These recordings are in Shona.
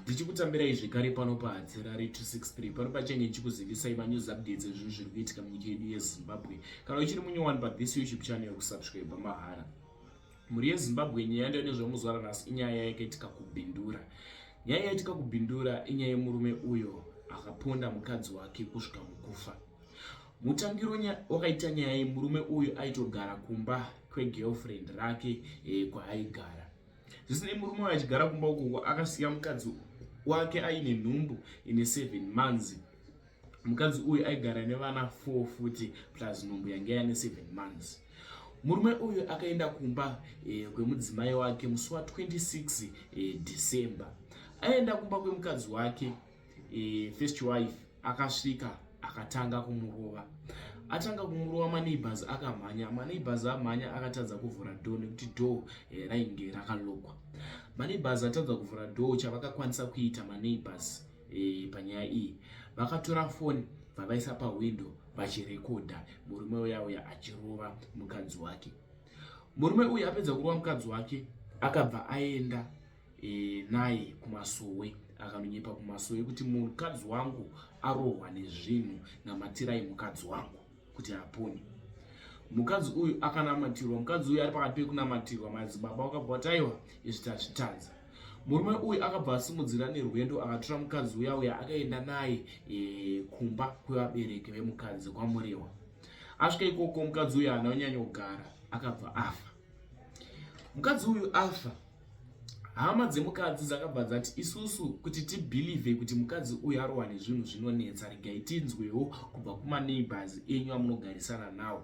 ndichikutambirai zvekare pano pahatirari 263 pano pachenge ndichikuzivisai manews updates ezvinhu zviri kuitika munyika yedu yezimbabwe kana uchiri munyowani pathis youtube channel kusubscribe mahara mhuri yezimbabwe nyaya yaenda nezvamuzwara nhasi inyaya yaikitika kubhindura nyaya yaitika kubhindura inyaya yemurume uyo akaponda mukadzi wake kusvika mukufa mutangiro wakaita nyaya yemurume uyo aitogara kumba kwegirlfriend rake e, kwaaigara zvisinei murume uyo achigara kumba ukoko akasiya mukadzi wake aine nhumbu ine seven months mukadzi uyu aigara nevana four futi plus nhumbu yange yane seven months murume uyu akaenda kumba eh, kwemudzimai wake musi wa 26 eh, december aenda kumba kwemukadzi wake e, first wife akasvika akatanga kumurova atanga kumurova maneighbors akamhanya maneighbors amhanya akatadza kuvhura door nekuti door eh, rainge rakalokwa maneighbors atadza kuvhura door chavakakwanisa kuita maneighbors eh, panyaya iyi vakatora foni vavaisa pahwindo vachirekodha murume uya uya achirova mukadzi wake murume uyu apedza kurova mukadzi wake akabva aenda e, naye kumasowe akanonyepa kumasowe kuti mukadzi wangu arohwa nezvinhu namatirai mukadzi wangu kuti apone mukadzi uyu akanamatirwa mukadzi uyu ari pakati pekunamatirwa madzibaba wakabva wataiwa izvi tazvitadza murume uyu akabva asimudzira nerwendo akatora mukadzi uya uya akaenda naye e, kumba kwevabereki vemukadzi kwamurewa asvika ikoko mukadzi uyu haana kunyanya kugara akabva afa mukadzi uyu afa hama dzemukadzi dzakabva dzati isusu kuti tibhilivhe kuti mukadzi uyu arohwa nezvinhu zvinonetsa regai tinzwewo kubva kumaneighbors enyu amunogarisana nawo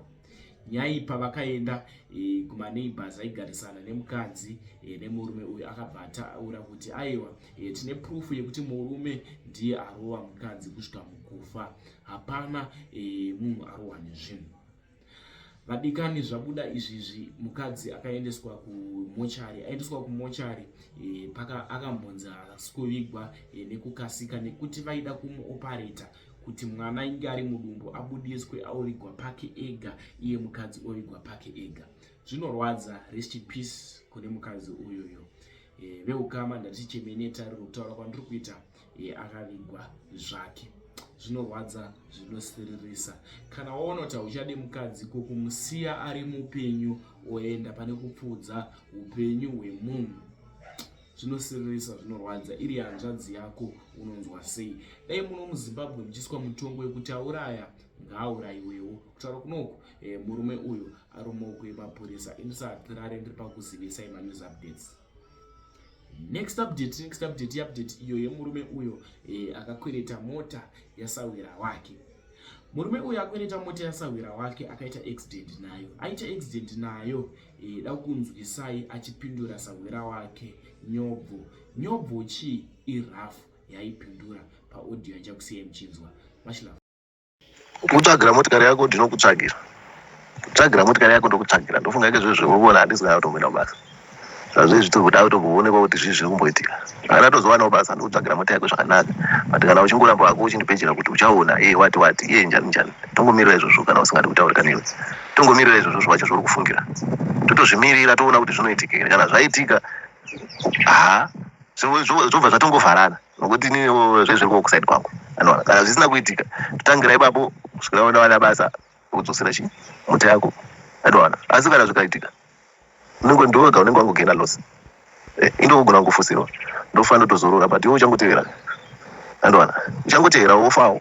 nyaipa vakaenda e, kumaneighbors aigarisana nemukadzi e, nemurume uyu akabva ataura kuti aiwa e, tine prufu yekuti murume ndiye arova mukadzi kusvika mukufa hapana e, munhu arohwa nezvinhu Vadikani, zvabuda izvizvi mukadzi akaendeswa kumochari aendeswa kumochari e, paka akambonzi haasi kuvigwa e, nekukasika nekuti vaida kumuopareta kuti mwana inge ari mudumbu abudiswe aovigwa pake ega iye mukadzi ovigwa pake ega zvinorwadza rest in peace kune mukadzi uyoyo e, veukama ndatichemeneta riri kutaura kwandiri kuita e, akavigwa zvake zvinorwadza zvinosiririsa kana waona kuti hauchadi mukadzi ko kumusiya ari mupenyu oenda pane kupfuudza upenyu hwemunhu zvinosiririsa zvinorwadza iri hanzvadzi yako unonzwa sei dai muno muzimbabwe muchiiswa mutongo wekuti auraya ngaaurayiwewo kutaura kunoku eh, murume uyu ari mumaoko emapurisa ini sahatirare ndiri pakuzivisai manews updates next update next update update iyo yemurume uyo e, akakwereta mota yasahwira wake murume uyo akwereta mota yasahwira wake akaita accident nayo aita accident nayo e, da kunzwisai achipindura sahwira wake nyobvo nyobvo chii irafu yaipindura paaudio yanjakusiyai muchinzwa mashilava kutsvagira motikari yako ndinokutsvagira tsvagira motikari yako ndokutsvagira ndofunga ke zvezvo vovona handisi kana kutomboenda kubasa zvazvezvi tiri kuda kutomboonekwa kuti zvii zviri kumboitika kana tozowanawo basa ndokutsvagira mota yako zvakanaka but kana uchingoramba wako uchindipejera kuti uchaona iye wati wati iye njani njani tongomirira izvozvo kana usingadi kutaurika newe tongomirira izvozvo zvacho zvauri kufungira totozvimirira toona kuti zvinoitika here kana zvaitika ha zvobva zvatongovharana nokuti iniwo zvezviriko kusaidi kwangu anoona kana zvisina kuitika totangira ipapo kusvika unowana basa kudzosera chi muti yako anoona asi kana zvikaitika unenge ndoga unenge wangogena loss eh, indokugona kungofusirwa ndofanira tozorora but iwe uchangotevera anoona uchangotevera wofawo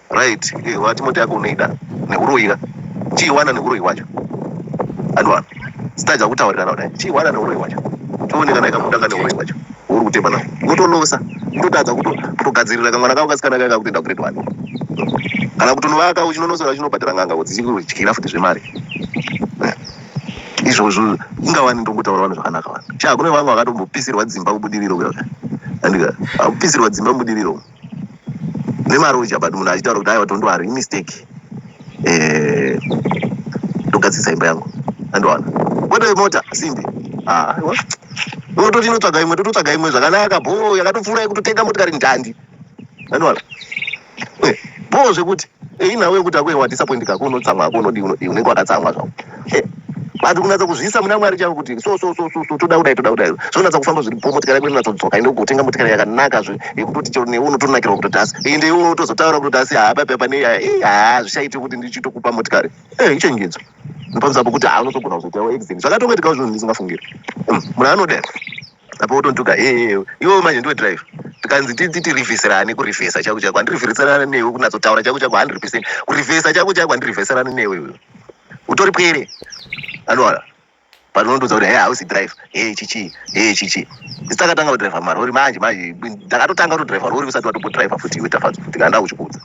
Right, eh, wati mota yako unoida neuroyika chiiwana neuroyi wacho anwa sitaja kutaurirana kudai chiiwana neuroyi wacho tione kana ikabuda ka neuroyi wacho uri kutemba nao wotolosa kutotadza kutogadzirira kamwana kako kasikana kaika kutoenda grade one kana kutonovaka uchinonosora chinobhadhara nganga kuti chikutyira futi zvemari eh, izvozvo ingawani ndombutaura vanhu zvakanaka vanhu cha kune vamwe vakatombopisirwa dzimba kubudiriro andika akupisirwa dzimba mubudiriro nemaruzha but munhu achitaura kuti aiwa tondo ari imistake eh, ndogadzisa imba yangu andowana kwete mota simbi ah, aiwa unototi inotsvaga imwe tototsvaga imwe zvakanaka bho yakatopfuura yekutotenga motikari ndandi andowana eh, bho zvekuti Ei nawe kuti akuwe wadisappoint kako unotsamwa hako unodii unodii unenge wakatsamwa zvako. Eh, but kunatsa kuzviisa muna Mwari chavo kuti so so so so so toda kudai toda kudai. Zvinonatsa kufamba zviri po motikari yako inonatsa kudzoka ine kutenga motikari yakanaka zve yekutoti chero newe unotonakirwa kutoti asi ende iwe unotozotaura kutoti asi haa papi apa nei haa ii haa zvichaite kuti ndichitokupa motikari. Eh, ichenjedzo. Ndopamisa apo kuti haa unotogona kuzoitawo accident. Zvakatongoitikawo zvinhu ndisingafungiri. Mm, Munhu anodai. apa wotontuka hee iwewe manje ndiwe drive tikanzi tirivheserane kurivhesa chako chako handirivheserane newe kunatsotaura chako chako hundred percent kurivhesa chako chako handirivheserane newe iwe utori pwere anoona panondoudza kuti hee hausi drive hee chichi hee chichi isi takatanga kudriva marori manje manje ndakatotanga kutodriva rori usati watobodriva futi iwe tafadzo ndikanda kuchikuudza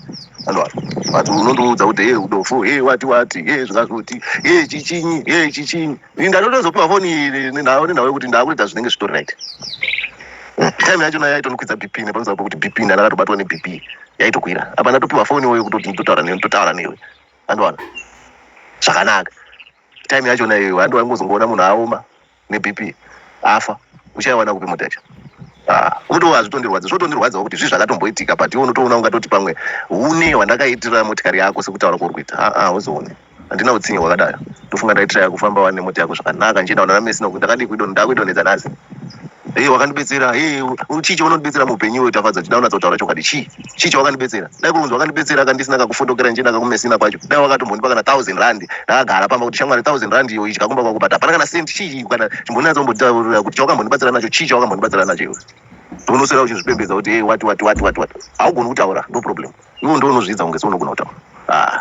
anoona but unondoudza kuti hee udofo hee wati wati hee zvingazvoti hee chichinyi hee chichinyi ndatotozopiwa foni nenhau nenhau yekuti ndakuita zvinenge zvitori right time yacho nayo yaitonokwidza bp nepamusoro pekuti bp ndana akatobatwa nebp yaitokwira apa ndatopiwa foni iwoyo kutoti ndotaura newe ndotaura newe andowana zvakanaka time yacho nayo handi wangozongoona munhu aoma nebp afa uchaiwana kupi mota yacho ah, unotoona hazvitondirwadza zvotondirwadzawo kuti zvii zvakatomboitika but iwe unotoona ungatoti pamwe une wandakaitira motikari yako sekutaura kwauri kuita aa ah, ah, uzoone Handina utsinye hwakadaro. Ndofunga ndaitraya kufamba wani nemota yako zvakanaka ndichienda kunana Messi nokuti ndakadii kuidon ndakuidonhedza nhasi. Hei wakandibetsera, hei u- chii chaunondibetsera muupenyu iwe Tafadzwa chidai unatsa kutaura chokwadi chii? Chii chawakandibetsera? Dai kuri kunzi wakandibetsera ka ndisina kakufotokera ndichienda kakumesina kwacho dai wakatombondipa kana thousand rand ndakagara pamba kuti shamwari thousand rand iyo idya kumba kwako but hapana kana cent chii kana chimbonatsa kumbotaurira kuti chawakambondibatsira nacho chii chawakambondibatsira nacho iwe. Unoswera uchizvipembedza kuti hey, wati wati wati wati wati haugoni kutaura no problem. Ivo ndivo unozviidza kunge seunogona kutaura. Ah.